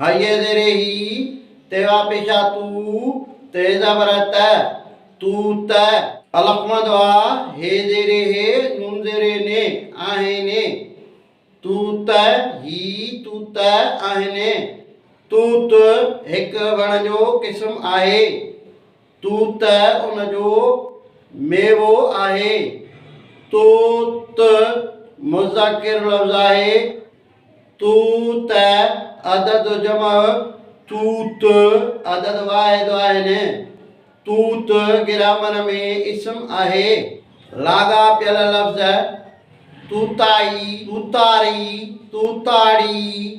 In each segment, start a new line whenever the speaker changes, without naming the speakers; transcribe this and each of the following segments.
هيء زيري هي تيوا پيشا تو تي زبر ته، تو ته. الف مد آ، هي زيري هي، نون زيري ني، آهين ني. تو ته هي، تو ته آهين ني. توت هڪ وڻ جو قسم آهي. تو ته ان جو ميوو آهي. تو ت مذڪر لفظ آهي. تو ت عدد جمع تو ت عدد واحد آهن. تو ت گرامر ۾ اسم آهي. لاڳاپيل لفظ توتائي، توتاري، توتاڙي.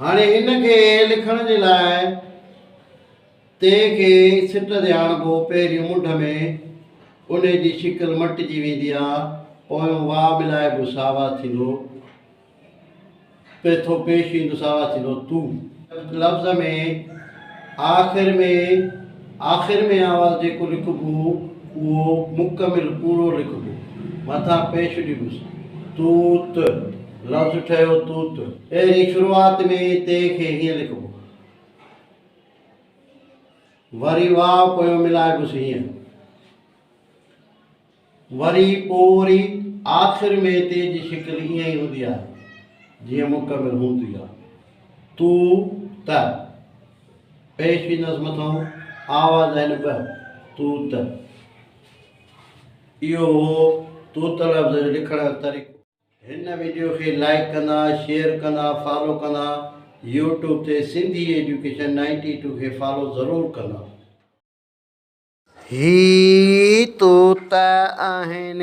هاڻي ان کي لکڻ جي لاء تي کي سٽ تي آڻبو، پهريون منڍ ۾ انهي جي شڪل مٽجي ويندي آ، پويون واء ملائبو ساوا ٿيندو، پيٿو پيش ايندو ساوا ٿيندو، تون. لفظ ۾ آخر ۾ آخر ۾ آواز جيڪو لکبو اهو مڪمل پورو لکبو، مٿان پيش ڏبوس، تون ت. لفظ ٺهيو توت. اهڙي شروعات ۾ تي کي هيئن لکبو. وري واء پويون ملائبس هيئن. وري پو وري آخر ۾ تي جي شڪل ائين ئي هوندي آهي جيئن مڪمل هوندي آهي. تو، ت پيش ويندس مٿئون آواز آهن ٻه، تو ت. اهو هو توت لفظ جو لکڻ جو طريقو. هن ويڊيو کي لائيڪ ڪندا شيئر ڪندا فالو ڪندا يوٽيوب تي سنڌي ايڊيوڪيشن نائنٽي ٽو کي فالو ضرور ڪندا. هي طوطا آهن.